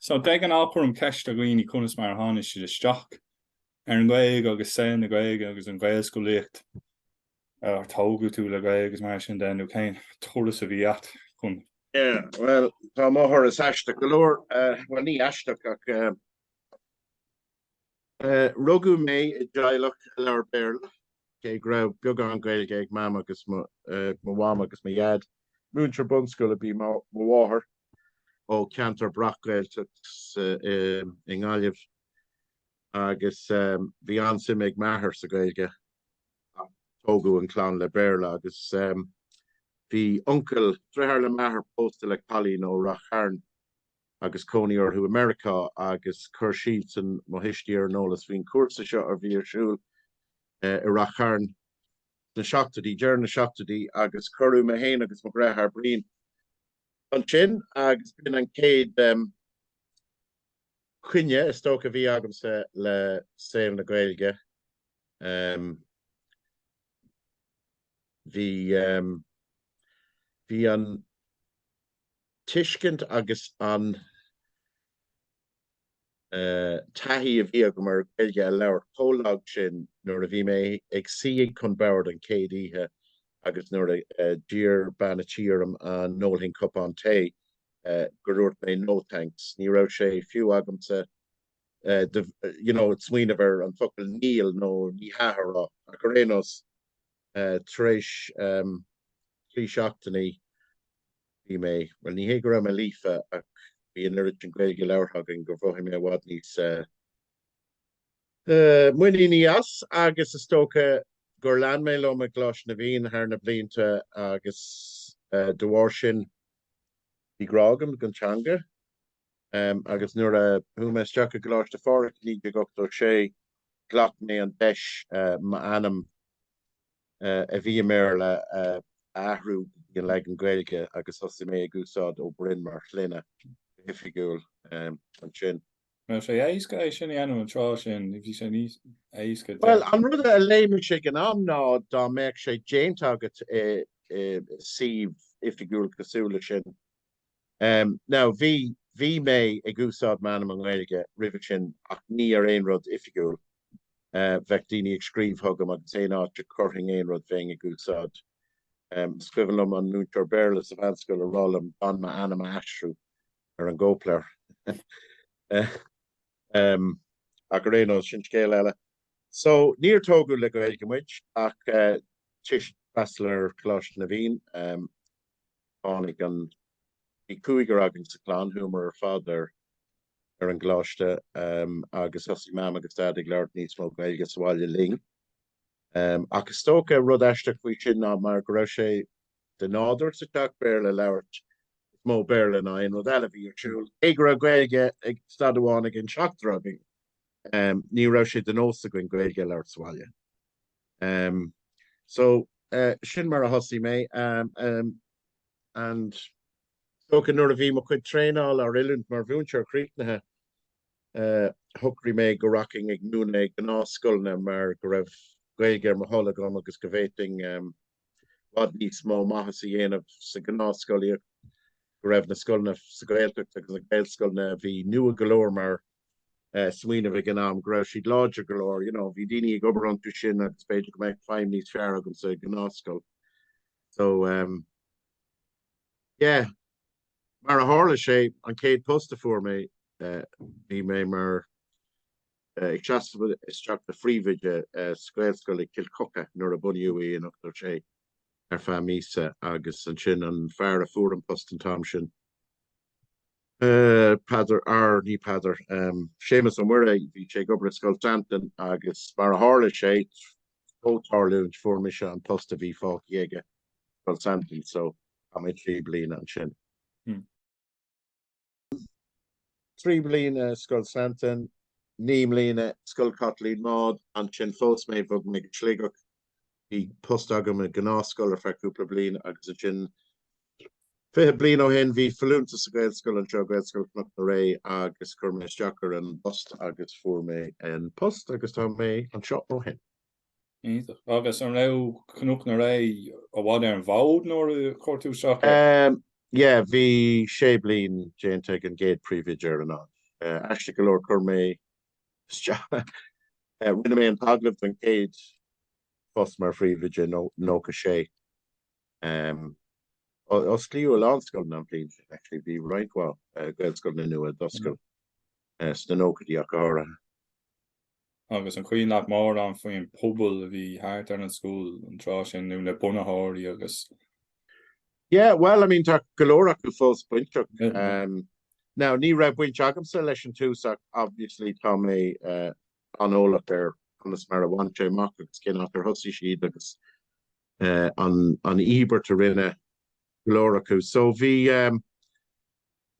So bím i gcónaí ag cur ceist ar dhaoine conas mar a tháinig siad isteach ar an Ghaeilge agus saol na Gaeilge agus an Ghaelscolaíocht ar tógadh tú le Gaeilge agus mar sin de nó cén turas a bhí agat chun Yeah, well, tá mo thuras aisteach go leor, bhuel ní aisteach ach eh, Rugadh mé i dteaghlach a labhair Béarla, cé go raibh beagán Gaeilge ag Mam agus mo Mham agus mo Dhaid. Múinteoir bunscoile ab í mo mháthair, ó cheantar breac-Ghaeltacht i nGaillimh, agus bhí an-suim ag m'athair sa Ghaeilge, ach tógadh an clann le Béarla. Agus bhí uncail, deartháir le m'athair, pósta le cailín ó Rath Chairn. agus cónaí orthu i Meiriceá agus chuir siadsan mo thuistí ar an eolas faoin chúrsa seo a bhí ar siúl i Rath Chairn sna seachtóidí, deireadh na seachtóidí agus cuireadh mé féin agus mo dheartháir Brian ansin agus b'in an chéad choinne is dócha a bhí agamsa le saol na Gaeilge. Bhí, bhí an tuiscint agus an taithí a bhí agam ar Ghaeilge a labhairt chomh lag sin nuair a bhí mé ag suí chun boird an chéad oíche agus nuair a d'iarr bean a tí orm an n-ólfainn cupán tae gur dhúirt mé no thanks. Ní raibh sé fiú agamsa, you know, smaoineamh ar an bhfocal níl nó ní hea a rá, ach ar aon nós, tar éis trí seachtainí bhí mé, bhuel ní hé go raibh mé líofa ach bhí an oiread sin Gaeilge labhartha againn gur mhothaigh mé i bhfad níos muiníní as agus is dócha gur lean mé liom i gColáiste na bhFiann thar na blianta agus de bharr sin bhí grá agam don teanga. agus nuair a chuaigh mé isteach i gColáiste Phádraig i 1986 ghlac mé an deis m'ainm a bhí i mBéarla a athrú go dtí an leagan Gaeilge agus thosaigh mé ag úsáid Ó Broin mar shloinne go hoifigiúil ansin. Bhí sé éasca é sin a dhéanamh an tráth sin, nó bhí sé níos éasca? Bhuel, an rud a léigh mise ag an am ná dá mbeadh sé déanta agat i suíomh oifigiúil cosúil leis sin, Now bhí, bhí mé ag úsáid m'ainm i nGaeilge roimhe sin ach ní ar aon rud oifigiúil, bheadh daoine ag scríobh chugam agus aon áit a chuirfinn aon rud bheinn ag úsáid, is cuimhin liom an múinteoir Béarla sa mheánscoil ag rá liom gan m'ainm a aistriú ar an gcóipleabhar. Ach ar aon nós, sin scéal eile. So, níor tógadh le Gaeilge muid ach toisc freastal ar Choláiste na bhFiann. Tháinig an. Bhí cúigear againn sa chlann, chuamar ar fad ar ar an gcoláiste agus thosaigh Mam agus Dad ag labhairt níos mó Gaeilge sa bhaile linn. Ach is dócha rud aisteach faoi sin ná mar go raibh sé de nádúr sa teach Béarla a labhairt, is mó Béarla ná aon rud eile a bhí ar siúl, cé go raibh Gaeilge ag staid amháin ag an seachtar againn, ní raibh sé de nós againn Gaeilge a labhairt sa bhaile. em so eh sin mar a thosaigh mé em em and is dócha nuair a bhí mo chuid traenáil nó oiliúint mar mhúinteoir críochnaithe eh shocraigh mé go rachfainn ag múineadh i ngnáthscoileanna mar go raibh Gaeilge ar mo thoil agam agus go bhféadfainn em bhfad níos mó maitheas a dhéanamh sa gnáthscolaíocht, go raibh na scoileanna sa Ghaeltacht agus na Gaelscoileanna a bhí nua go leor mar smaoineamh ag an am, go raibh siad láidir go leor, you know, bhí daoine ag obair iontu sin agus b'fhéidir go mbeadh feidhm níos fearr agam sa gnáthscoil. So um, yeah, mar a tharla sé an chéad post a fuair mé uh, bhí mé mar ag seasamh isteach do phríomhoide sa Ghaelscoil i gCill Choca nuair a bunaíodh í in ochtó a sé ar feadh míosa agus ansin an fear a fuair an post an t-am sin Peadar er ní Peadar um Séamus Ó Muirí bhí sé ag obair Scoil Santain agus mar a tharla sé ó tarlúint fuair mise an post a bhí fágtha aige Scoil Santain so um trí bliana ansin. 3 bliana Scoil Santain, 9 mbliana Scoil Chaitlín Maude, ansin phós mé, bhog mé go Sligeach, bhí post agam i ngnáthscoil ar feadh cúpla bliain agus ansin fiche bliain ó shin bhí folúntas sa Ghaelscoil anseo, Gaelscoil Chnoc na Ré agus chuir mé isteach ar an bpost agus fuair mé an post agus tá mé anseo ó shin. Agus an raibh Cnoc na Ré i bhfad ar an bhfód nuair a chuir tú isteach air? Yeah, bhí sé bliain déanta ag an gcéad príomhoide ar an áit. Aisteach go leor chuir mé, rinne mé an t-agallamh don chéad phost mar phríomhoide i nócha a sé. Osclaíodh a lán scoileanna an bhliain sin actually, bhí roinnt mhaith Gaelscoileanna nua a d'oscail sna nóchaidí ach go háirithe. agus an cuimhin leat mórán faoin bpobal a bhí thart ar an scoil an tráth sin nó na bunaitheoirí agus. Yeah, bhuel, I mean, tá go leor acu fós bainteach. Now, ní raibh baint agamsa leis an tús ach obviously tá mé an-eolach ar conas mar a bhain sé amach agus cén áit ar thosaigh siad agus an íobairt a rinne go leor acu. So bhí,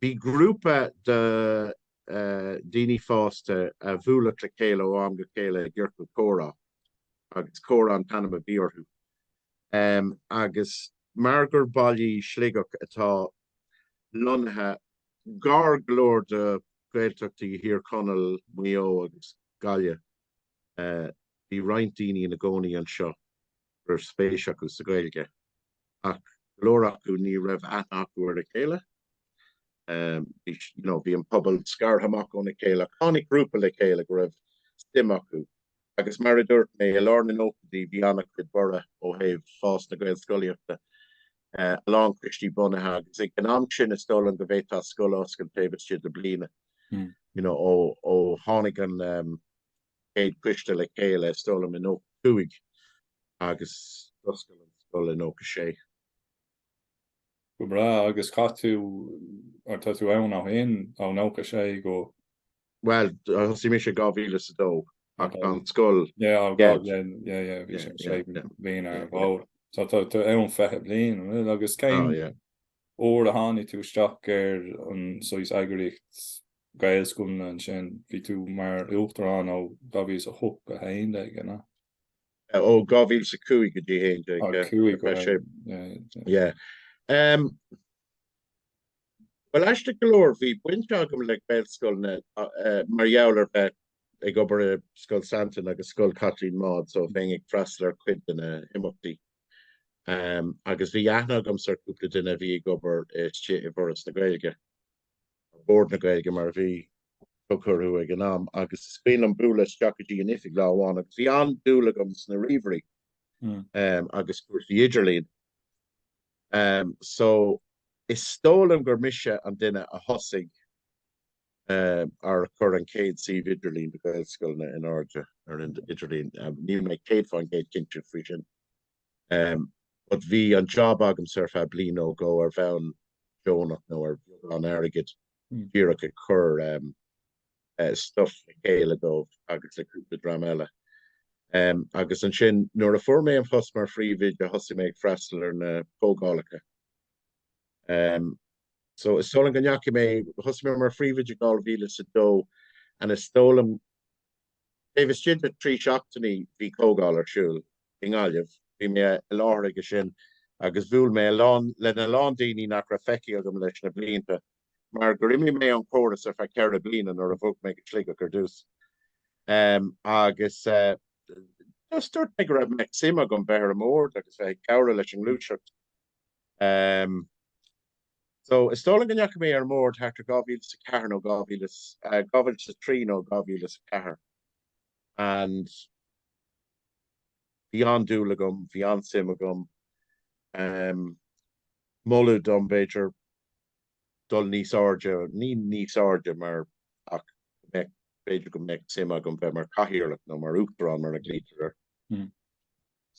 Bhí grúpa de dhaoine fásta a bhuaileadh le chéile ó am go chéile i gciorcal comhrá agus Comhrá an t-ainm a bhí orthu agus mar gur baile í Sligeach atá lonnaithe gar go leor do Ghaeltachtaí Thír Chonaill, Maigh Eo agus Gaillimh bhí roinnt daoine ina gcónaí anseo. go raibh spéis acu sa Ghaeilge ach go leor acu ní raibh aithne acu ar a chéile, you know. Bhí an pobal scartha amach óna chéile ach tháinig grúpa le chéile go raibh suim acu agus mar a dúirt mé, i lár na nóchaidí bhí an-chuid borradh ó thaobh fás na Gaelscolaíochta, a lán coistí bunaithe agus ag an am sin is dóigh liom go bhféadfá scoil a oscailt taobh istigh de bliain, you know, ó tháinig an chéad coiste le chéile is dóigh liom i 95 agus d'oscail an scoil i 96. Go breá. Agus cathain tú, or tá tú ann ó shin, ó 96 go. Bhuel, thosaigh mise i 2002 ach tá an scoil. Yeah, oh God, yeah, yeah, yeah, bhí sé sé bliain ar an bhfód. So tá tú ann 20 bliain, an bhfuil? Agus cén. Oh yeah. Uair a tháinig tú isteach ar an saghas eagraíocht. Gaelscoileanna ansin, bhí tú mar Uachtarán ó 2008 go 11, an ea? Ó 2005 go dtí 11. Ó 5 go 11, yeah. Yeah. Bhuel, aisteach go leor, bhí baint agam le Gaelscoileanna mar gheall ar bheith ag obair i Scoil Santain agus Scoil Chaitlín Maude, so bheinn ag freastal ar cuid de na himeachtaí. Agus bhí aithne agamsa ar cúpla duine a bhí ag obair istigh i bhForas na Gaeilge. Bord na Gaeilge mar a bhí tugtha orthu ag an am agus is cuimhin liom bualadh isteach go dtí an oifig lá amháin agus bhí an-dúil agam sna ríomhairí agus cúrsaí idirlín so is dóigh liom gur mise an duine a thosaigh, or a chuir an chéad suíomh idirlín do Ghaelscoileanna in airde ar an idirlíon. Níl mé céad fán gcéad cinnte faoi sin. but bhí an job agamsa ar feadh bliain nó dhó ar bhonn deonach nó ar bheagán airgid díreach ag cur stuff le chéile dóibh agus le cúpla dream eile. Agus ansin nuair a fuair mé an post mar phríomhoide thosaigh mé ag freastal ar na comhdhálacha. So is dóigh liom go ndeachaigh mé, thosaigh mé mar phríomhoide in 2002 and is dóigh liom Taobh istigh de trí seachtainí bhí comhdháil ar siúl i nGaillimh, bhí mé i láthair aige sin, agus bhuail mé lena lán daoine nach raibh feicthe agam leis na blianta mar gur imigh mé ón chóras ar feadh ceithre bliana nuair a bhog mé go Sligeach ar dtús. Agus just dúirt mé go raibh suim agam bheith ar an mBord agus bheith ag cabhrú leis an ngluaiseacht. Ehm. So, is dóigh liom go ndeachaigh mé ar an mbord thart ar 2004 nó 2003 nó 2004 and bhí an-dúil agam, bhí an-suim agam. Ehm. Moladh dom, b'fhéidir, dul níos airde, ní níos airde mar ach bheith, b'fhéidir go mbeadh suim agam bheith mar chathaoirleach nó mar uachtarán mar a glaoitear air.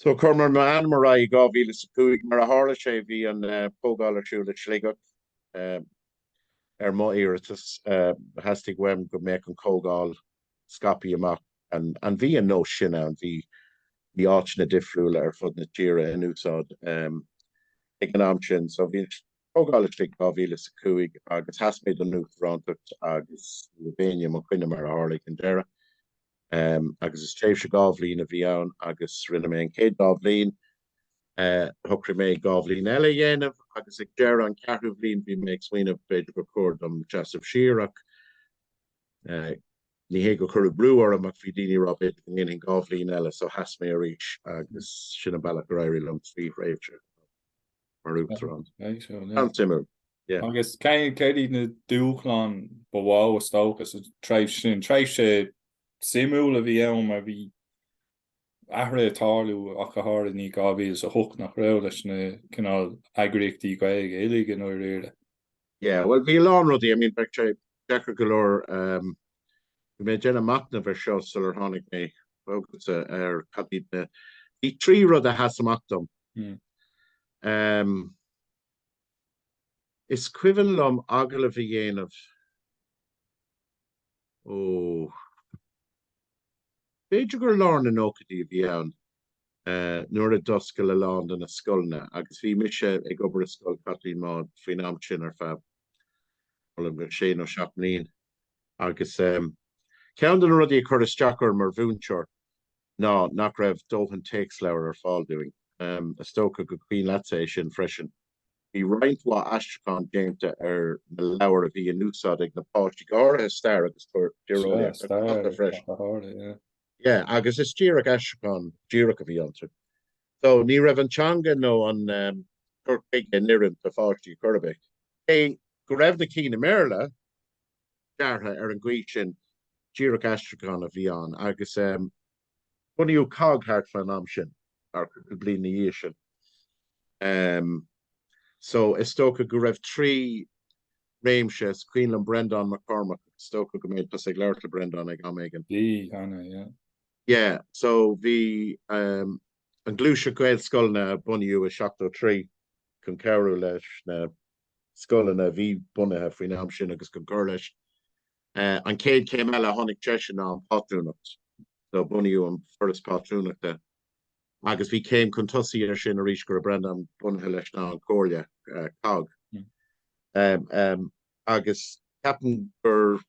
So chuir mé m'ainm ar aghaidh i 2005. Mar a tharla sé bhí an chomhdháil ar siúl i Sligeach. Ar mo iarratas theastaigh uaim go mbeadh an chomhdháil scaipthe amach and bhí an nós sin ann, bhí áiteanna difriúla ar fud na tíre in úsáid ag an am sin. So bhí an chomhdháil i Sligeach 2005 agus sheas mé don Uachtarántacht agus ní raibh éinne i mo choinne mar a tharla ag an deireadh. agus is tréimhse dhá bhliain a bhí ann agus rinne mé an chéad dá bhliain shocraigh mé dhá bhliain eile a dhéanamh agus ag deireadh an cheathrú bhliain bhí mé ag smaoineamh b'fhéidir gur chóir dom seasamh siar ach ní hé gur cuireadh brú orm ach bhí daoine ag rá b'fhéidir go ndéanfainn dhá bhliain eile so sheas mé arís agus sin an bealach ar éirigh liom trí thréimhse. mar Uachtarán. An-suimiúil, yeah. Agus cad iad na dúshláin ba mhó is dócha sa tréimhse sin? Tréimhse shuimiúil a bhí ann mar bhí athruithe ag tarlú ach go háirithe i ndiaidh 2008 nach raibh leis na cineál eagraíochtaí Gaeilge uilig i ndáiríre. Yeah, bhuel bhí a lán rudaí, I mean bheadh sé deacair go leor, um, bhí mé ag déanamh machnamh air seo sular tháinig mé chugatsa ar cad iad na, bhí trí rud a sheas amach dom. Um, is cuimhin liom agallamh a dhéanamh, oh, b'fhéidir gur lár na nóchaidí a bhí ann, nuair a d'oscail a lán de na scoileanna agus bhí mise ag obair i Scoil Chaitlín Maude faoin am sin ar feadh b'fhéidir sé nó seacht mbliain agus ehm ceann de na rudaí a chuir isteach orm mar mhúinteoir ná nach raibh dóthain téacsleabhar ar fáil dúinn. Ehm is dócha gur cuimhin leatsa é sin freisin. Bhí roinnt mhaith aistriúchán déanta ar na leabhair a bhí in úsáid ag na páistí go háirithe stair agus tíreolaíocht ach freisin. Yeah agus is díreach aistriúchán díreach a bhí iontu. So ní raibh an teanga nó an cur chuige in oiriúint do pháistí ar chor ar bith. Cé go raibh na cinn i mBéarla deartha ar an gcaoi sin díreach aistriúchán a bhí ann agus bunaíodh COGG thart fán am sin, ar cúpla bliain ina dhiaidh sin. So is dócha go raibh trí réimse. Is cuimhin liom Breandán Mac Cormaic, is dócha go mbeidh tusa ag labhairt le Breandán ag am éigin. Bhí, cheana, yeah. Yeah, so bhí an gluaiseacht Gaelscoileanna a bunaíodh i seachtó trí chun cabhrú leis na scoileanna a bhí bunaithe faoin am sin agus chun cur leis. An chéad chéim eile a tháinig tar éis sin ná an phátrúnacht. So bunaíodh an Foras Pátrúnachta. agus bhí céim chun tosaigh air sin arís go raibh Breandán bunaithe leis ná an Chomhairle COGG agus ceapaim gur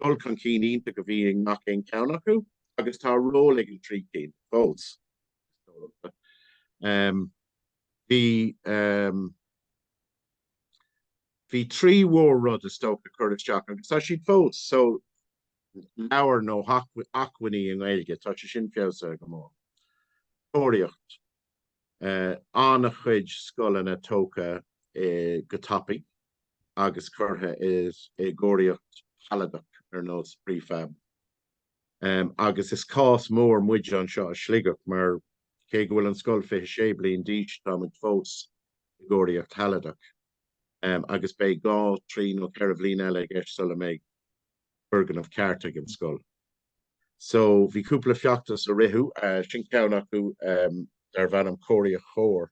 dul chun cinn iontach a bhí i ngach aon cheann acu agus tá ról ag an trí cinn fós is dócha. Bhí bhí trí mhór rud is dócha curtha isteach agus tá siad fós so leabhair nó acmhainní i nGaeilge, tá sé sin feabhsaithe go mór. Cóiríocht, an-chuid scoileanna tógtha go tapaidh agus curtha i gcóiríocht shealadach ar nós prefab. Agus is cás mór muid anseo i Sligeach mar cé go bhfuil an scoil 26 bliain d'aois tá muid fós i gcóiríocht shealadach agus beidh dhá, trí nó ceithre bhliain eile i gceist sula mbeidh. foirgneamh ceart ag an scoil. So bhí cúpla feachtas a ritheadh, sin ceann acu darb ainm Cóiríocht Chóir.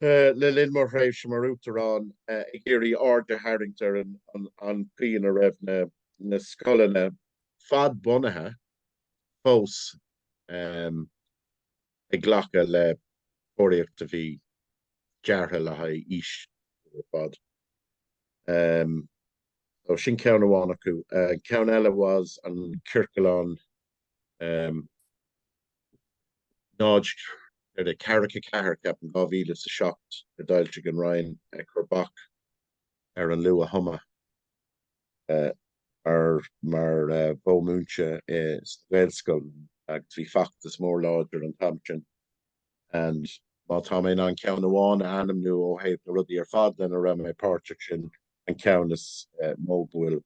Le linn mo thréimhse mar uachtarán ag iarraidh aird a tharraingt ar an chaoi ina raibh na scoileanna fadbhunaithe fós ag glacadh le cóiríocht a bhí deartha le haghaidh aois eile ar fad. So sin ceann amháin acu. Ceann eile was an ciorclán um náid náid ceathracha ceathair ceapaim 2007 a d'fhoilsigh an Roinn ag cur bac ar an luath-thumadh. mar mhodh múinte sa Ghaelscoil agus bhí feachtas mór láidir an t-am sin and má tá mé in ann ceann amháin a ainmniú ó thaobh na rudaí ar fad lena raibh mé páirteach, sin an ceann is mó go bhfuil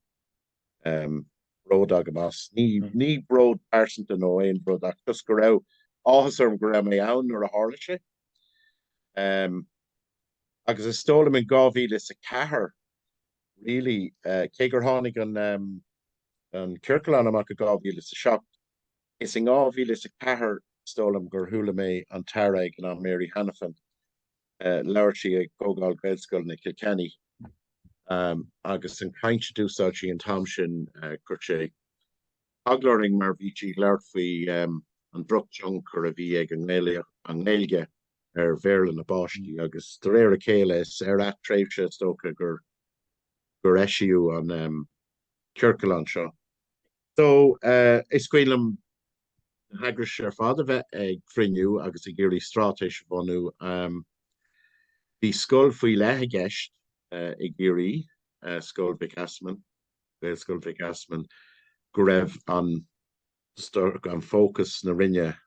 bród agam as. Ní bród pearsanta nó aon rud ach just go raibh áthas orm go raibh mé ann nuair a tharla sé agus is dóigh liom in 2004, really cé gur tháinig an ciorclán amach i 2007 is i 2004 is dóigh liom gur chuala mé an tAire ag an am Mary Hanafin labhair sí ag Comhdháil Gaelscoileanna i gCill Chainnigh agus an chaint a d'úsáid sí an t-am sin chuir sé ag glaoch orainn mar bhí sí ag labhairt faoi an drochthionchar a bhí ag an nGaeilge ar Bhéarla na bpáistí agus de réir a chéile is ar feadh tréimhse is dócha gur eisíodh an ciorcalán seo. So is cuimhin liom na heagrais ar fad a bheith ag cruinniú agus ag iarraidh straitéis a bhunú. Bhí scoil faoi leith i gceist i gCiarraí, Scoil Mhic Easmainn. Gaelscoil Mhic Easmainn go raibh an fócas na Roinne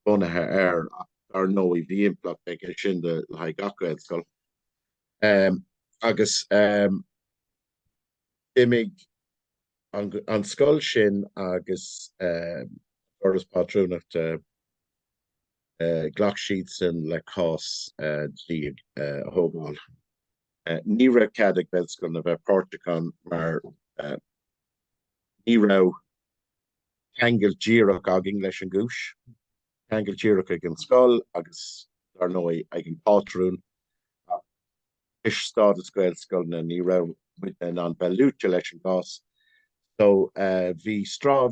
bunaithe air ach dar ndóigh bhí impleacht aige sin le haghaidh gach Gaelscoil agus d'imigh an scoil sin agus an Foras Pátrúnachta, ghlac siad san le cás dlí a thógáil. Ní raibh cead ag Gaelscoileanna a bheith páirteach ann mar ní raibh ceangal díreach againn leis an gcúis. Ceangal díreach ag an scoil agus dar ndóigh ag an pátrún ach toisc stádas Gaelscoileanna ní raibh muidne in ann bheith luaite leis an gcás. So bhí,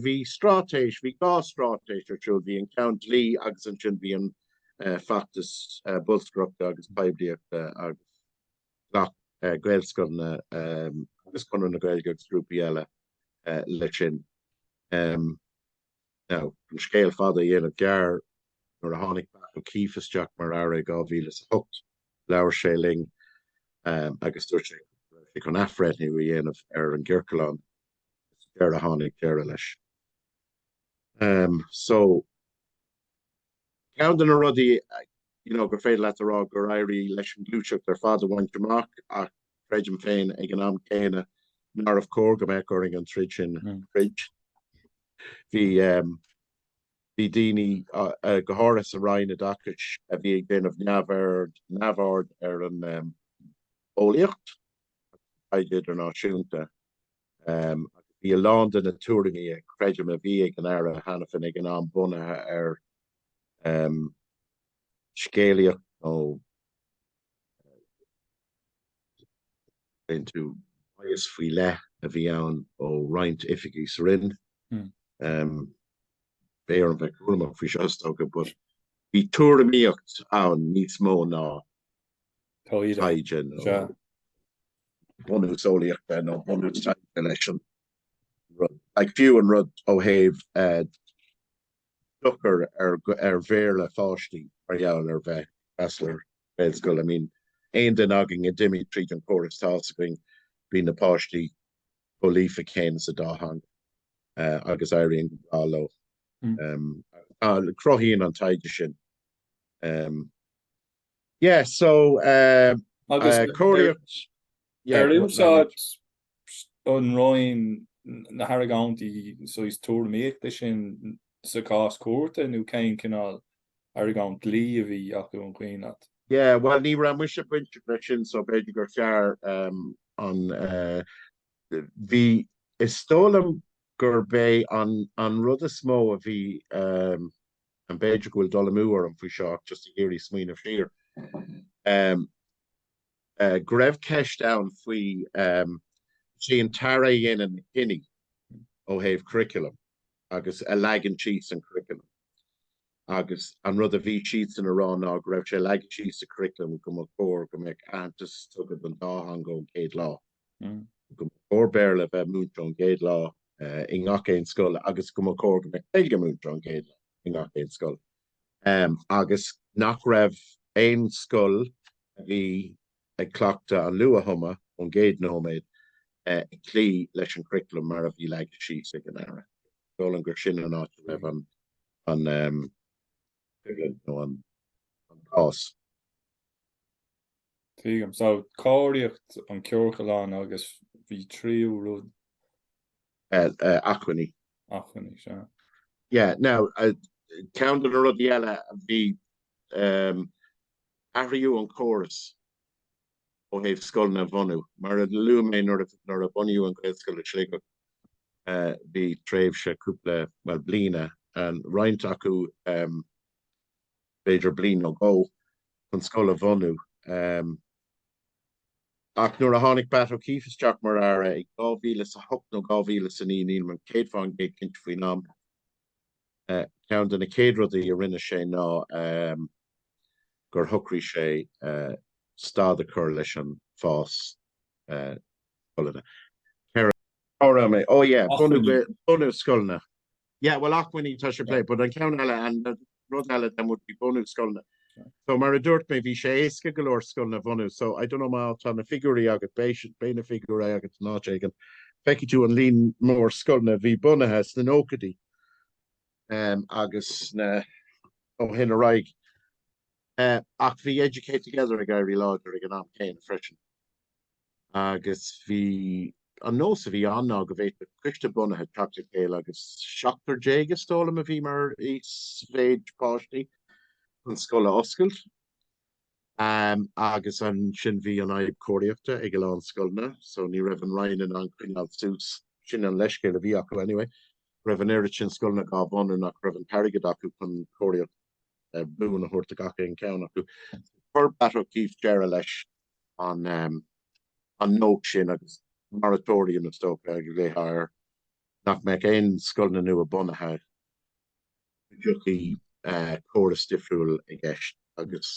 bhí straitéis, bhí dhá straitéis ar siúl, bhí an ceann dlí agus ansin bhí an feachtas bolscaireachta agus poiblíochta agus ghlac Gaelscoileanna agus Conradh na Gaeilge agus grúpaí eile leis sin. Now, an scéal fada a dhéanamh gearr, nuair a tháinig Batt O'Keeffe isteach mar Aire i 2008, labhair sé linn agus dúirt sé go raibh sé chun athbhreithniú a dhéanamh ar an gciorcalán agus sa deireadh tháinig deireadh leis. So. Ceann de na rudaí you know gur féidir leat a rá gur éirigh leis an ghluaiseacht ar fad a bhaint amach ach creidim féin ag an am céanna nárbh chóir go mbeadh orainn an troid sin a throid. Bhí daoine, go háirithe sa Roinn Oideachais, a bhí ag déanamh neamhaird ar an eolaíocht agus taighde idirnáisiúnta. Bhí a lán de na tuairimí creidim a bhí ag an Aire Hanafin ag an am bunaithe ar scéalaíocht nó anecdote bias faoi leith a bhí ann ó roinnt oifigigh sa Roinn. B'fhearr dom bheith cúramach faoi seo is dócha, but bhí tuairimíocht ann níos mó ná taighde nó bunús eolaíochta nó bunús taighde leis an rud. Like, fiú an rud ó thaobh dochar ar Bhéarla pháistí mar gheall ar bheith ag freastal ar Ghaelscoil. I mean, aon duine againn a d'imigh tríd an córas tá a fhios againn, bíonn na páistí chomh líofa céanna sa dá theanga agus éiríonn go breá leo. Cruthaíonn an taighde sin Yeah so eh agus cóiríocht, ar úsáid an roinn na hargóintí sóisialta tuairimíochta sin sa chás cúirte nó cén cineál argóint dlí a bhí acu an cuimhin leat? Yeah bhuel ní raibh muidne bainteach leis sin so b'fhéidir gur fearr ehm an eh bhí is dóigh liom gurb é an an rud is mó a bhí ehm b'fhéidir go bhfuil dul amú orm faoi seo ach just ag iarraidh smaoineamh siar ehm eh go raibh ceist ann faoi ehm is í an tAire a dhéanann cinní ó thaobh curriculum agus a leagann síos an curriculum agus an rud a bhí siadsan a rá ná go raibh sé leagtha síos sa curriculum go mba chóir go mbeadh aitheantas tugtha don dá theanga ón chéad lá. go mba chóir Béarla a bheith múinte ón gcéad lá i ngach aon scoil agus go mba chóir go mbeadh Gaeilge múinte ón gcéad lá i ngach aon scoil agus nach raibh aon scoil a bhí ag cleachtadh an luath-thumadh ón gcéad nóiméad ag cloí leis an gcuraclam mar a bhí leagtha síos ag an Aire. Is dóigh liom gur sin an áit a raibh an aige nó an cás. Tuigim. So, cóiríocht an ciorclán agus bhí tríú rud. acmhainní. acmhainní, sea. Yeah, now, ceann de na rudaí eile bhí athraíodh an córas ó thaobh scoileanna a bhunú. Mar a luaigh mé nuair a bunaíodh an Ghaelscoil i Sligeach bhí tréimhse cúpla, bhuel bliana, roinnt acu b'fhéidir bliain nó dhó chun scoil a bhunú ach nuair a tháinig Batt O'Keeffe isteach mar Aire i 2008 nó 2009, nílim céad faoin gcéad cinnte faoin am, Ceann de na céad rudaí a rinne sé ná gur shocraigh sé stad a chur leis an bhfás scoileanna. Ceithre. Cá raibh mé? Ó yeah, bunú scoileanna. Yeah, bhuel acmhainní tá sé pléite, but an ceann eile, an rud eile than would be bunú scoileanna. So mar a dúirt mé bhí sé éasca go leor scoileanna bunú. So I don't know má tá na figiúirí agat, beidh na figiúirí agat in áit éigin. Feicfidh tú an líon mór scoileanna a bhí bunaithe sna nóchaidí agus na ó shin ar aghaidh. Ach bhí Educate Together ag éirí láidir ag an am céanna freisin. agus bhí an nós a bhí ann ná go bhféadfadh coiste bunaithe teacht le chéile agus seachtar déag is dóigh liom a bhí mar íosmhéid páistí chun scoil a oscailt agus ansin bhí an-fhadhb cóiríochta ag a lán scoileanna so ní raibh an Roinn in ann coinneáil suas sin an leithscéal a bhí acu anyway raibh an oiread sin scoileanna dhá bhunú nach raibh an t-airgead acu chun cóiríocht buan a thabhairt do gach aon ceann acu chuir Batt O'Keeffe deireadh leis an nós sin agus moratorium is dócha a ghlaofá air nach mbeadh aon scoileanna nua bunaithe go dtiocfadh córas difriúil i gceist agus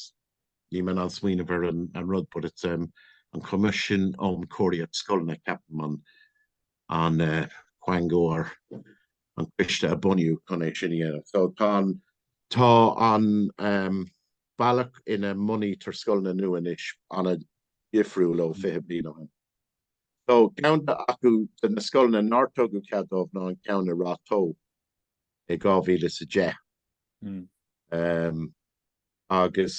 níl mé in ann smaoineamh ar an rud but it's an coimisiún um cóiríocht scoileanna ceapaim an quango nó an coiste a bunaíodh chun é sin a dhéanamh so tá an tá an bealach ina mbunaítear scoileanna nua anois an-difriúil ó 20 bliain ó shin. So ceann acu de na scoileanna nár tugadh cead dóibh ná an ceann i Ráth Tó i 2010 agus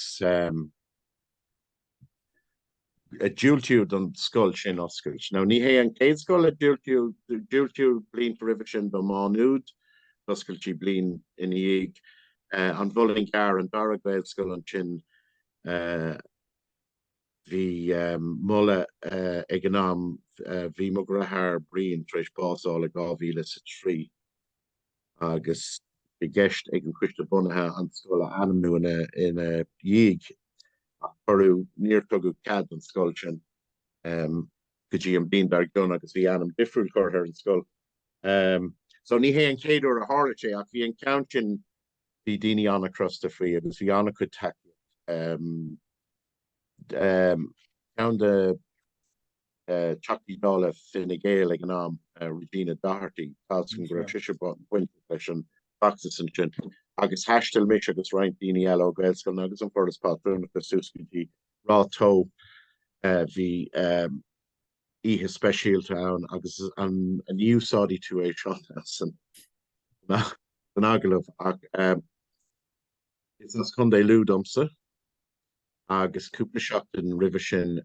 a diúltaíodh don scoil sin oscailt. Now ní hé an chéad scoil a diúltaíodh, diúltaíodh blianta roimhe sin do Má Nuad, d'oscail sí bliain ina dhiaidh eh, an Muileann gCearr, an dara Gaelscoil ansin eh, bhí um, moladh uh, ag an am uh, bhí mo dheartháir Brian tar éis básáil i 2003. agus bhí i gceist ag an Coiste Bunaithe an scoil a ainmniú ina dhiaidh ach cuireadh níor tugadh cead don scoil sin go dtí an bhliain dar gcionn agus bhí ainm difriúil curtha ar an scoil. So ní hé an chéad uair a tharla sé ach bhí an ceann sin, bhí daoine an-chrosta faoi agus bhí an-chuid tacaíochta. Ceann de Teachtaí Dála Fine Gael ag an am, Regina Doherty, tá a fhios agam go raibh sise bainteach leis an bhfeachtas ansin, agus thaistil mise agus roinnt daoine eile ó Ghaelscoileanna agus An Foras Pátrúnachta suas go dtí Ráth Tó. Bhí oíche speisialta ann agus ní úsáidfidh tú é seo san agallamh ach is as Contae Lú domsa. agus cúpla seachtain roimhe sin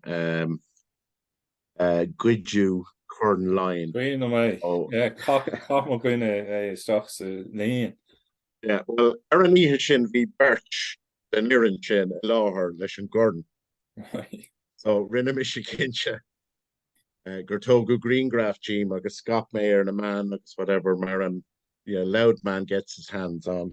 goideadh Corn Laighin ó Chaith mo dhuine é isteach sa líon. Yeah, well, ar an oíche sin bhí beirt den fhoireann sin i láthair leis an gcorn. So rinne mise cinnte eh, gur tógadh grianghraf díom agus scaip mé ar na meáin agus whatever mar an yeah, Louth man gets his hands on.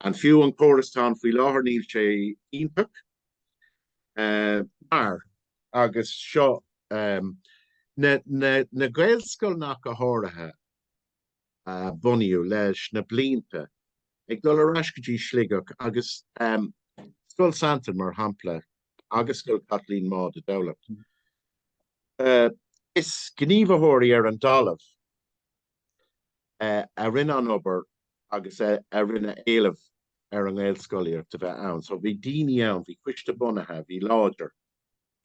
An fiú an córas atá ann faoi láthair? Níl sé iontach mar. agus seo na gaelscoileanna go háirithe a bunaíodh leis na blianta ag dul ar ais go dtí Sligeach agus Scoil Santain mar shampla agus Scoil Chaitlín Maude i dTamhlacht. Is gníomhaitheoirí ar an dtalamh. a rinne an obair agus a rinne an éileamh ar an nGaelscolaíocht a bheith ann. So bhí daoine ann, bhí coiste bunaithe, bhí láidir,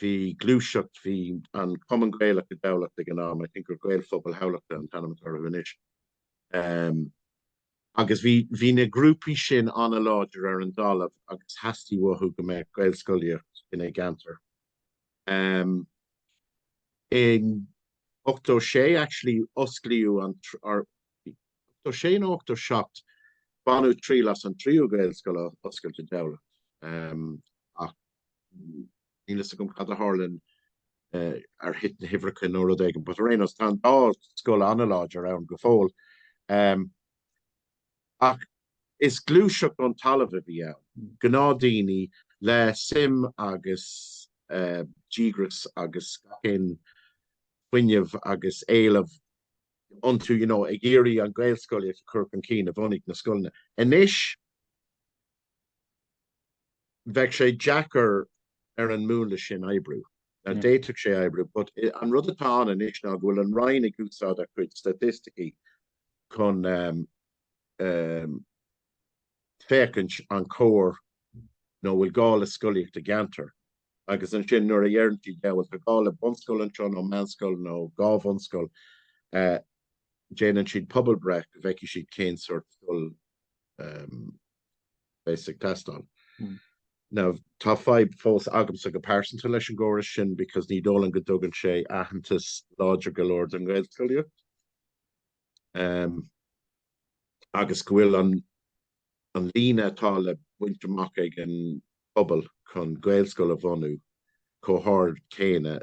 bhí gluaiseacht, bhí an Cumann Gaelach i dTamhlacht ag an am, I think gur Gaelphobal Thamhlachta an t-ainm atá orthu anois, agus bhí bhí na grúpaí sin an-láidir ar an dtalamh agus theastaigh uathu go mbeadh Gaelscolaíocht ina gceantar. I 86 actually osclaíodh an or 86 nó 87 baineadh triail as an tríú Gaelscoil a oscailt i dTamhlacht ach níl fhios agam cad a tharla ar thit na huimhreacha nó rud éigin, but ar aon nós tá an dá scoil an-láidir ann go fóill. Ach Is gluaiseacht ón talamh a bhí ann, gnáthdhaoine le suim agus díograis agus gach aon fuinneamh agus éileamh iontu you know ag iarraidh an Ghaelscolaíocht a chur chun cinn a bhunaigh na scoileanna. Anois bheadh sé deacair ar an múnla sin oibriú. Now d'fhéadfadh sé oibriú but an rud atá ann anois ná go bhfuil an Roinn ag úsáid a cuid staitisticí chun féachaint an cóir nó bhfuil gá le scolaíocht i gceantar agus ansin nuair a deireann siad bhuel tá gá le bunscoil anseo nó meánscoil nó dhá bhunscoil déanann siad pobalbhreith go bhfeicfidh siad cén sórt scoil a bheas ag teastáil. Now tá fadhb fós agamsa go pearsanta leis an gcóras sin because ní dóigh liom go dtugann sé aitheantas láidir go leor don Ghaelscolaíocht. agus go bhfuil an líne atá le baint amach ag an bpobal chun Gaelscoil a bhunú chomh hard céanna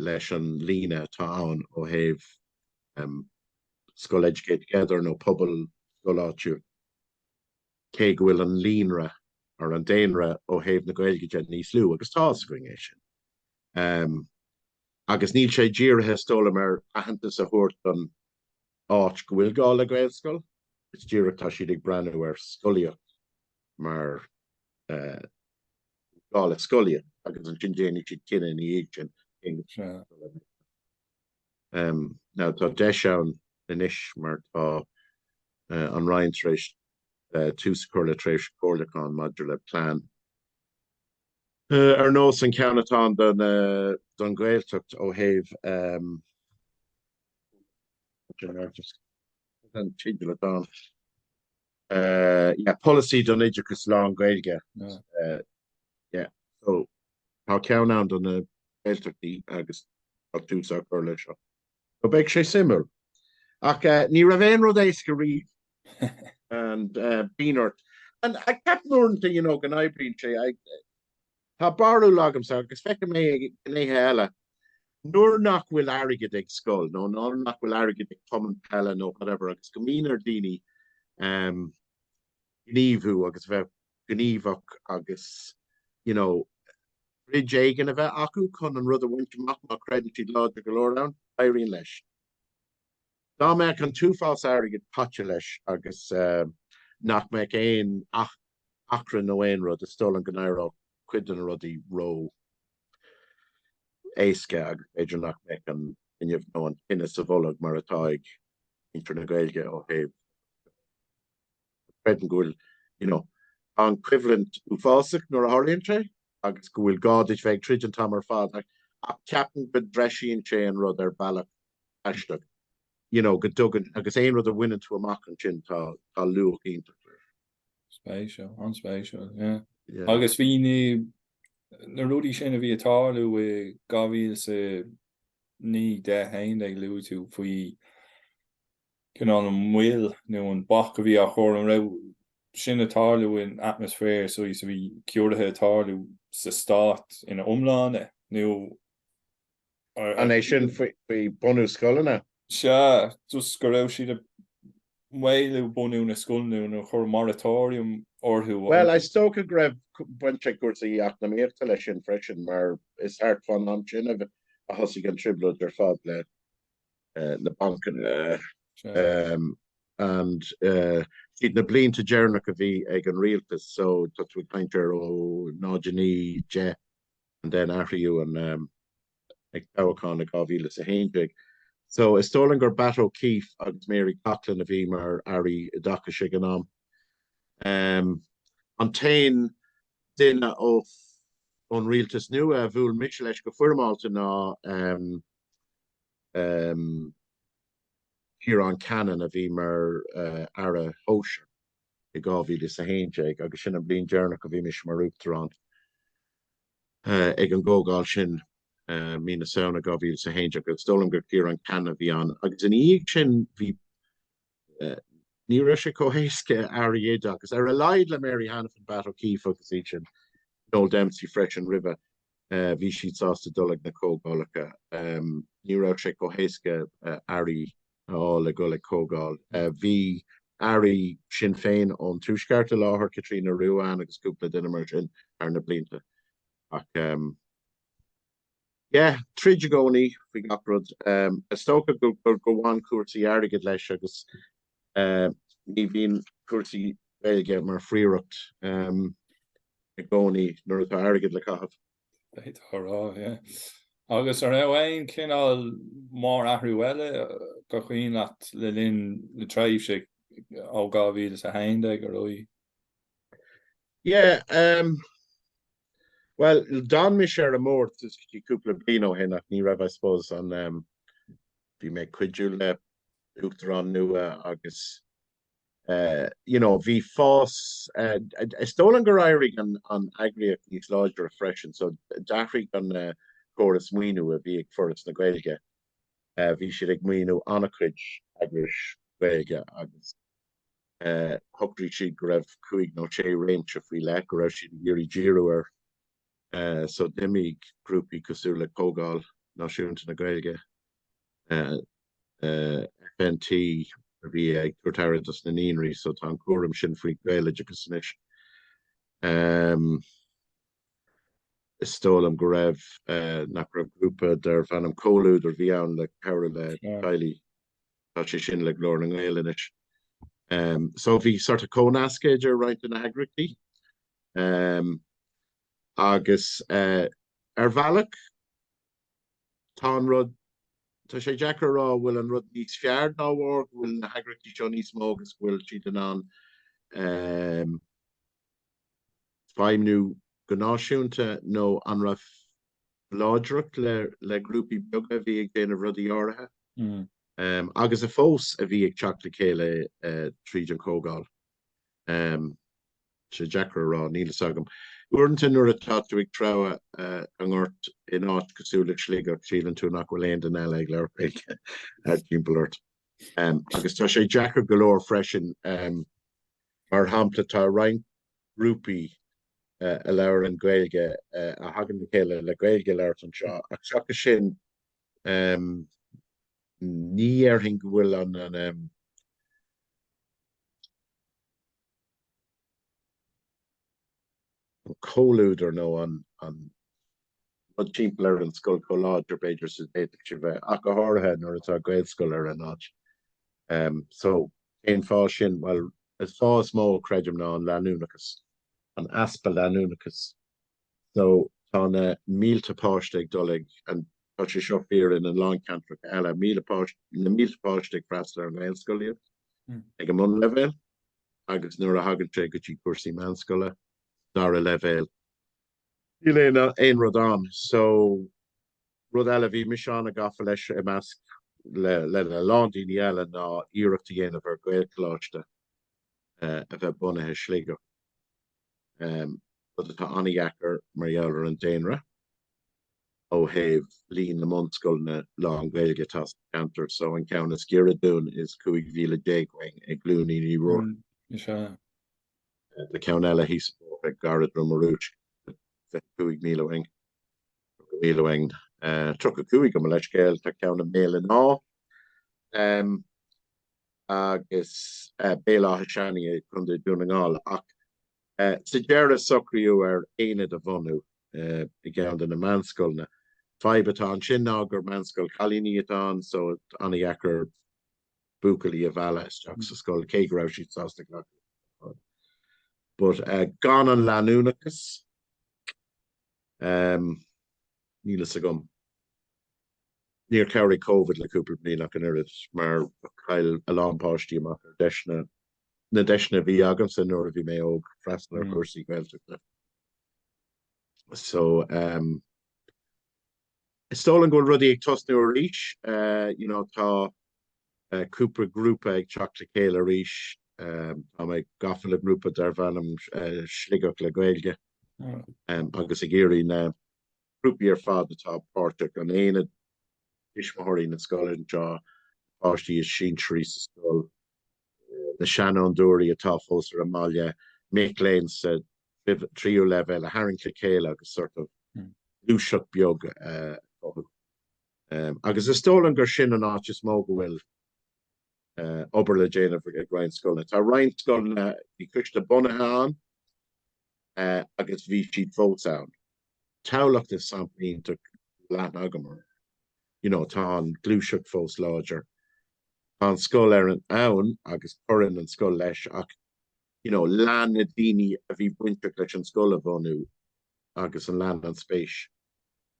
leis an líne atá ann ó thaobh scoil Educate Together nó pobalscoil áitiúil, cé go bhfuil an líonra or an daonra ó thaobh na Gaeilge de níos lú, agus tá a fhios againn é sin. agus níl sé dírithe is dóigh liom ar aitheantas a thabhairt don áit go bhfuil gá le Gaelscoil, is díreach tá siad ag breathnú ar scolaíocht mar gá le scolaíocht agus ansin déanfaidh siad cinneadh ina dhiaidh sin cén scoil a bheidh ann. Now tá deis ann anois mar tá an Roinn tar éis tús a chur le tréimhse comhairliúcháin maidir le plean, Ar nós an ceann atá ann don Ghaeltacht ó thaobh polasaí don oideachas lán-Ghaeilge so tá ceann ann do na Gaeltachtaí agus tá tús á chur leis seo. Ó beidh sé suimiúil. Ach ní raibh aon rud éasca riamh agus bíonn ort. Agus ceapaim uaireanta you know go n-oibríonn sé. Tá barúil agamsa agus feicim é i ngnéithe eile nuair nach bhfuil airgead ag scoil nó nuair nach bhfuil airgead ag cumann peile nó whatever agus go mbíonn ar daoine gníomhú agus a bheith gníomhach agus you know troid éigin a bheith acu chun an rud a bhaint amach má chreideann siad láidir go leor ann, éiríonn leis. Dá mbeadh an t-uafás airgid caite leis agus nach mbeadh aon achrann nó aon rud, is dóigh liom go n-éireodh cuid de na rudaí ró éasca agus b'fhéidir nach mbeadh an fhuinneamh nó an tine sa bholg mar atá ag muintir na Gaeilge ó thaobh creidim go bhfuil, you know, an coimhlint uafásach nuair a tharlaíonn sé agus go bhfuil gá duit bheith ag troid an t-am ar fad ach ach ceapaim go dtreisíonn sé an rud ar bealach aisteach, you know, go dtugann agus aon rud a bhaineann tú amach ansin tá tá luach iontach leis. Spéisiúil, an-spéisiúil, yeah. Yeah. Agus bhí na na rudaí sin a bhí ag tarlú i 2009, 10, 11 luaigh tú faoi cineál an mhoill nó an bac a bhí á chur, an raibh sin ag tarlú in atmaisféar, sa mhéid is a bhí ciorruithe ag tarlú sa stát ina iomláine nó ar. An é sin faoi bunú scoileanna? Sea, just go raibh siad ag maolú bunú na scoileanna nó ag cur moratorium orthu. Bhuel, is dócha go raibh baint ag cúrsaí eacnamaíochta leis sin freisin mar is thart fán am sin a thosaigh an trioblóid ar fad le. na bancanna and siad na blianta deireanach a bhí ag an rialtas so tá tú ag caint ar 09, 10 and then athraíodh an, ag toghchán i 2011. So is dóigh liom gur Batt O'Keefe agus Mary Coughlan a bhí mar airí oideachais ag an am. An t-aon duine ón rialtas nua a bhuail mise leis go foirmeálta ná Ciarán Cannon a bhí mar Aire Sóisir i 2011 agus sin an bliain deireanach a bhí mise mar Uachtarán ag an gcomhdháil sin mí na Samhna 2011 agus is dóigh liom gur Ciarán Cannon a bhí ann agus ina dhiaidh sin bhí ní raibh sé chomh héasca airí oideachais ar a laghad le Mary Hanafin, Batt O'Keeffe agus iad sin, Noel Dempsey freisin roimhe, bhí siad sásta dul ag na comhdhálacha. Ní raibh sé chomh héasca airí a fháil le dhul ag comhdháil. Bhí airí Sinn Féin ón Tuaisceart i láthair, Caitríona Ruane agus cúpla duine mar sin thar na blianta ach, Yeah, troid i gcónaí faoi gach rud. Is dócha go mbaineann cúrsaí airgid leis agus ní bhíonn cúrsaí Gaeilge mar phríoracht i gcónaí nuair atá airgead le caitheamh. D'fhéadfá a rá, yeah. Agus an raibh aon chineál mórathrú eile gur cuimhin leat le linn na tréimhse ó 2011 ar aghaidh? Yeah, Bhuel, d'fhan mise ar an mbord go dtí cúpla bliain ó shin ach ní raibh, I suppose, an em, bhí mé ag cuidiú le uachtarán nua agus eh you know bhí fás eh is dóigh liom gur éirigh an an eagraíocht níos láidre freisin so d'athraigh an eh córas maoiniú a bhí ag Foras na Gaeilge, eh bhí siad ag maoiniú an-chuid eagrais Ghaeilge agus. Shocraigh siad go raibh cúig nó sé réimse faoi leith go raibh siad ag iarraidh díriú air so d'imigh grúpaí cosúil le Comhdháil Náisiúnta na Gaeilge, FNT, a bhí ag tabhairt aire dos na naíonraí so tá an cúram sin faoi Gaeloideachas anois. is dóigh liom go raibh, nach raibh grúpa darbh ainm Comhluadar a bhí ann le cabhrú le teaghlaigh, tá sé sin le Glór na nGael anois. So bhí sort of comhnasc idir roinnt de na heagraíochtaí agus ar bhealach tá an rud, tá sé deacair a rá go bhfuil an rud níos fearr dá bharr go bhfuil na heagraíochtaí seo níos mó agus go bhfuil siad in ann feidhmniú go náisiúnta nó an raibh láidreacht le grúpaí beaga a bhí ag déanamh rudaí áirithe agus a fós a bhí ag teacht le chéile tríd an Chomhdháil. Sé deacair a rá, níl fhios agam. Uaireanta nuair atá tú ag treabhadh i ngort in áit cosúil le Sligeach síleann tú nach bhfuil aon duine eile ag labhairt timpeall ort agus tá sé deacair go leor freisin Mar shampla tá roinnt grúpaí a labhrann Gaeilge a thagann le chéile le Gaeilge a labhairt anseo ach seachas sin ní dhéarfainn go bhfuil an an comhluadar nó an rud timpeall ar an scoil chomh láidir b'fhéidir is a d'fhéadfadh sé bheith ach go háirithe nuair atá Gaelscoil ar an áit. So cén fáth sin? Bhuel, an fáth is mó a chreidim ná an leanúnachas, an easpa leanúnachais. So tá na mílte páiste ag dul ag, and tá sé seo fíor in a lán ceantracha eile, na mílte páiste ag freastal ar an nGaelscolaíocht ag an mbunleibhéal. agus nuair a thagann sé go dtí cúrsaí meánscoile, dara leibhéal, níl aon rud ann so rud eile a bhí mise an-gafa leis i measc le a lán daoine eile ná iarracht a dhéanamh ar Ghaelcholáiste a bheith bunaithe i Sligeach. rud atá an-dheacair mar gheall ar an daonra ó thaobh líon na mbunscoileanna lán-Ghaeilge atá sa cheantar, so an ceann is giorra dúinn is 15 mhíle uainn i gCluainín Uí Ruairc, tá ceann eile thíos fós ag Cora Droma Rúisc, 25 míle uainn, 30 míle uainn, 35 gabh mo leithscéal, tá ceann i mBéal an Átha. agus Béal Átha Seanaidh i gContae Dhún na nGall ach sa deireadh socraíodh ar aonad a bhunú i gceann de na meánscoileanna. Fadhb atá ansin ná gur meánscoil cailíní atá ann so an-dheacair buachaillí a mhealladh isteach sa scoil cé go raibh siad sásta glacadh leo. But gan an leanúnachas níl fhios agam. Níor chabhraigh Covid le cúpla bliain ach an oiread mar chaill a lán páistí amach ar deiseanna, na deiseanna a bhí agamsa nuair a bhí mé óg freastal ar chúrsaí Gaeltachta. So ehm is dóigh liom go bhfuil rudaí ag tosnú arís eh you know tá eh cúpla grúpa ag teacht le chéile arís ehm tá mé gafa le grúpa darb ainm eh Sligeach le Gaeilge ehm agus ag iarraidh na grúpaí ar fad atá páirteach, an aonad tuismitheoirí, na scoileanna anseo, páistí is sinsearaí sa scoil, na seanfhondúirí atá fós ar an mbaile, mic léinn sa tríú leibhéal a tharraingt le chéile agus sort of gluaiseacht beag a chothú. Agus is dóigh liom gur sin an áit is mó go bhfuil obair le déanamh ag roinnt scoileanna. Tá roinnt scoileanna, bhí coiste bunaithe ann agus bhí siad fós ann. Tamhlacht is sampla iontach leathan agam orm. You know, tá an ghluaiseacht fós láidir. Tá an scoil lárnach ann agus cuireann an scoil leis ach you know, lean na daoine a bhí bainteach leis an scoil a bhunú agus an lean an spéis.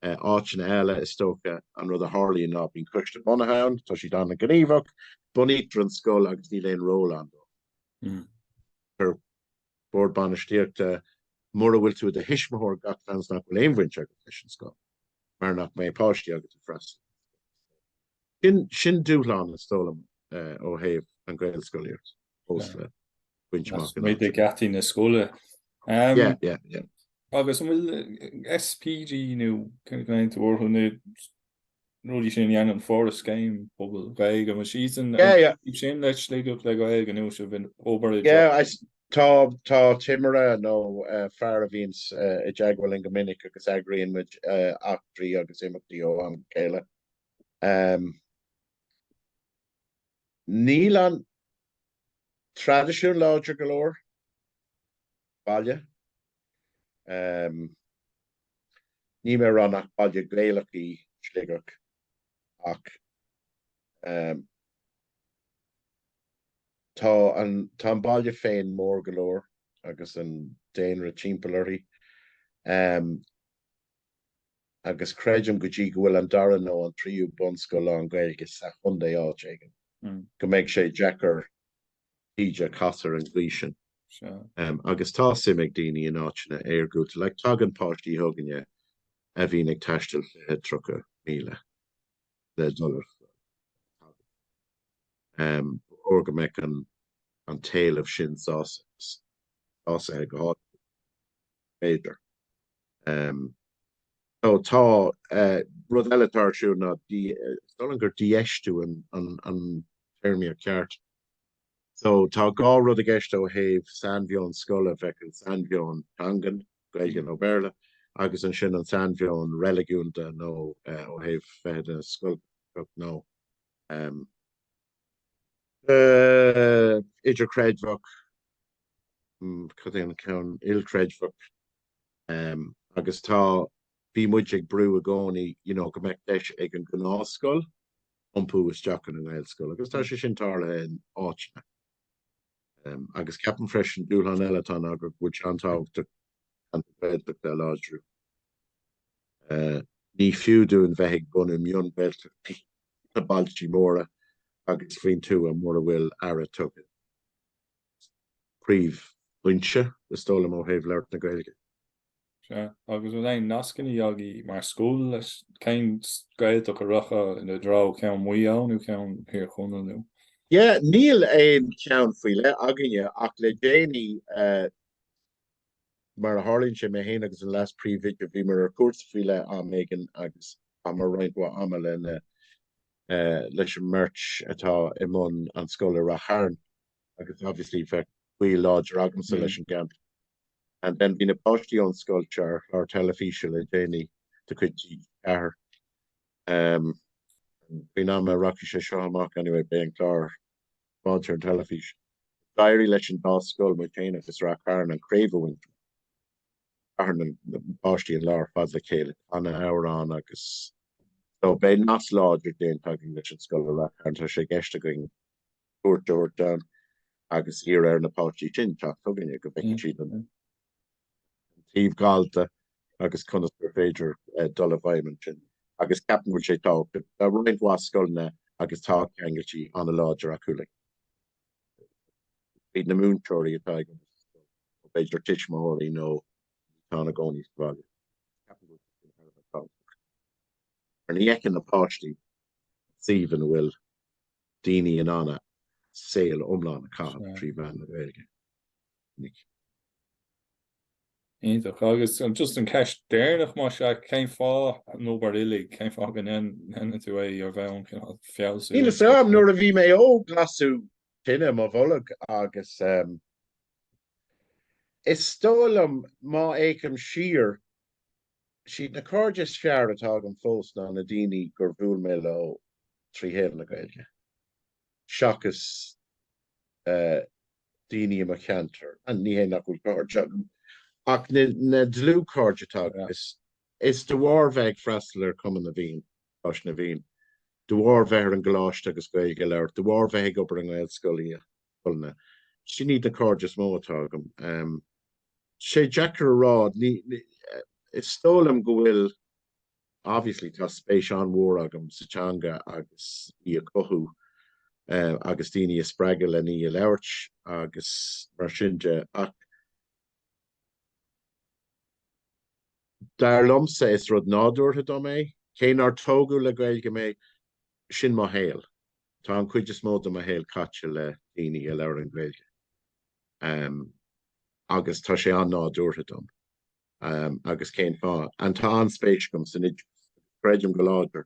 Áiteanna eile, is dócha, an rud a tharlaíonn ná bíonn coiste bunaithe ann, tá siad an-ghníomhach, bunaítear an scoil agus níl aon ról ann dóibh ach ar bord bainistíochta, mura bhfuil tú i do thuismitheoir gach seans nach bhfuil aon bhaint agat leis an scoil mar nach mbeidh páistí agat ag freastal ar an scoil. Sin dúshlán, is dóigh liom, ó thaobh an Ghaelscolaíocht fós le baint amach taobh amuigh de gheataí na scoile. Yeah, yeah, yeah. Agus an bhfuil SPG nó cén t-ainm atá orthu na rudaí sin a dhéanann Foras Scéim Pobail Gaeilge an bhfuil siad san aois sin le Sligeach le Gaeilge anois a bhfuil obair ag teacht acu? Yeah, tá timire nó fear a bhíonn i dteagmháil linn go minic agus eagraíonn muid eachtraí agus imeachtaí ó am go chéile Níl an traidisiún láidir go leor baile. Níl mé ag rá nach baile Gaelach í Sligeach ach tá an baile féin mór go leor agus an daonra timpeall uirthi. agus creidim go dtí go bhfuil an dara nó an tríú bunscoil lán Gaeilge sa chondae áit éigin go mbeidh sé deacair íde a chaith ar an gcaoi sin. Agus tá suim ag daoine in áiteanna iargúlta like tagann páistí chugainne a bhíonn ag taisteal fiche, tríocha míle le dul ar scoil. Ba chóir go mbeadh an an t-éileamh sin sásaithe go háirithe b'fhéidir. Tá rud eile atá ar siúl ná, is dóigh liom gur dífheistiú an téarma ceart. So tá dhá rud i gceist ó thaobh sainmheon scoile, bheadh an sainmheon teangan, Gaeilge nó Béarla, agus ansin an sainmheon reiligiúnda nó ó thaobh bheith i do scoil nó. idirchreidmheach, cad é an ceann eile, ilchreidmheach agus tá, bhí muid ag brú i gcónaí you know go mbeadh deis ag an gnáthscoil iompú isteach ina Gaelscoil agus tá sé sin tarlaithe in áiteanna. Agus ceapaim freisin dúshlán eile atá ná go bhfuil sé an-tábhachtach an Ghaeltacht a láidriú. Ní fiú dúinn bheith ag bunú mion-Ghaeltachtaí na bailtí móra agus faoin tuath mura bhfuil aire tugtha don phríomhfhoinse, is dóigh liom, ó thaobh labhairt na Gaeilge. Sea, agus bhfuil aon nascannaí agaí mar scoil leis, cén Gaeltacht a rachfá i dtreo, ceann Mhaigh Eo nó ceann Thír Chonaill nó? Yeah, níl aon cheann faoi leith againne ach le déanaí, Mar a tharlaíonn sé, mé héin agus an leas-phríomhoide, bhíomar ar chúrsa faoi leith am éigin agus chaitheamar roinnt mhaith ama leis an mbeirt atá i mbun an scoil i Ráth Chairn agus obviously bheadh gaol láidir agamsa leis an gceantar. And then bhí na páistí ón scoil seo ar chlár teilifíse le déanaí de chuid TG4. Faoin am a rachaidh sé seo amach anyway, beidh an clár thart ar an teilifís. D'éirigh leis an dá scoil, muid féin agus Ráth Chairn, an craobh a roinnt. Chaith na páistí an lá ar fad le chéile ag canadh amhrán agus so beidh nasc láidir déanta againn leis an scoil i Ráth Chairn. Tá sé i gceist againn cuairt a thabhairt ann agus iarraidh ar na páistí sin teacht chugainne go bhfeicfidh siad an an taobh gallda agus conas gur féidir dul i bhfeidhm ansin agus ceapaim go bhfuil sé tábhachtach. Tá roinnt mhaith scoileanna agus tá ceangailtí an-láidir acu leo, na múinteoirí atá, b'fhéidir tuismitheoirí nó atá ina gcónaí sa bhaile. Mar ní fheiceann na páistí an suíomh ina bhfuil daoine in ann a saol iomlán a chaitheamh trí mheán na Gaeilge. Iontach. Agus just an ceist deireanach, más ea, cén fáth an obair uilig? Cén fáth go ndéanann tú é ar bheadh an cineál fealsúnacht? Níl fhios a'm, nuair a bhí mé óg lasadh tine i mo bholg agus is dóigh liom má fhéachaim siar, siad na cairde is fearr atá agam fós ná na daoine gur bhuail mé leo trí mheán na Gaeilge. seachas daoine i mo cheantar, ní hé nach bhfuil cairde, ach na dlúthchairde atá agam, is de bharr bheith ag freastal ar Chumann na bhFiann, Coláiste na bhFiann, de bharr bheith ar an gcoláiste agus Gaeilge a labhairt, de bharr bheith ag obair i nGaelscoileanna, sin iad na cairde is mó atá agam. Sé deacair a rá, is dóigh liom go bhfuil. obviously tá spéis an-mhór agam sa teanga agus í a chothú agus daoine a spreagadh len í a labhairt agus mar sin de ach dar liomsa is rud nádúrtha dom é, cé nár tógadh le Gaeilge mé, sin mo shaol. Tá an chuid is mó de mo shaol caite le daoine a labhrann Gaeilge agus tá sé an-nádúrtha dom. agus cén fáth? Tá an-spéis agam san oideachas? Creidim go láidir.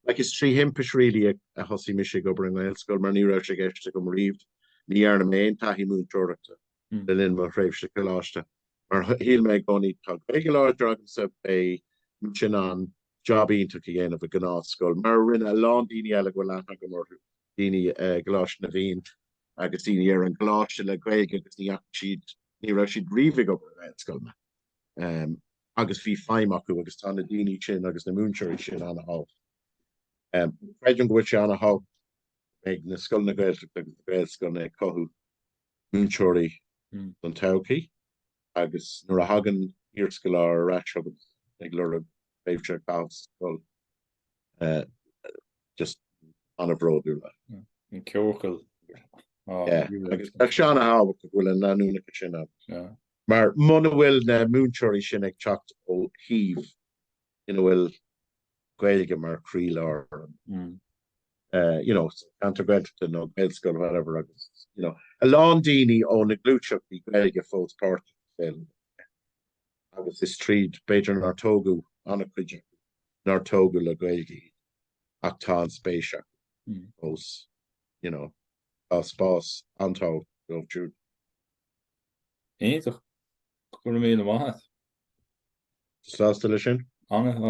Like is trí thimpist really a thosaigh mise ag obair i nGaelscoil mar ní raibh sé i gceist agam riamh. Ní dhearna mé aon taithí múinteoireachta le linn mo thréimhse coláiste. Mar a shíl mé i gcónaí tá Gaeilge láidir agamsa, beidh mise in ann job iontach a dhéanamh i gnáthscoil, mar a rinne a lán daoine eile a bhfuil aithne agam orthu, daoine i gColáiste na bhFiann agus daoine ar an gcoláiste le Gaeilge agus ní fhaca siad Ní raibh siad riamh ag obair i nGaelscoileanna agus bhí feidhm acu agus tá na daoine sin agus na múinteoirí sin an-tábhachtach. Creidim go bhfuil sé an-tábhachtach ag na scoileanna Gaeltachta agus na Gaelscoileanna ag cothú múinteoirí don todhchaí agus nuair a thagann iarscoláire ar ais chugat ag lorg tréimhse Gaelscoil just an-bhródúil as. An ceochail. agus tá sé an-tábhachtach go bhfuil an leanúnachas sin ann. Mar muna bhfuil na múinteoirí sin ag teacht ó shuímh ina bhfuil Gaeilge mar chroílár you know ceantar Gaeltachta nó Gaelscoil whatever agus you know a lán daoine ó na gluaiseachtaí Gaeilge fós páirteach agus is tríd b'fhéidir nár tógadh an-chuid acu nár tógadh le Gaeilge iad ach tá an spéis acu fós, you know, tá spás an-tábhachtach dóibh siúd. Iontach. Go raibh míle maith a't. Sásta leis sin? Ana.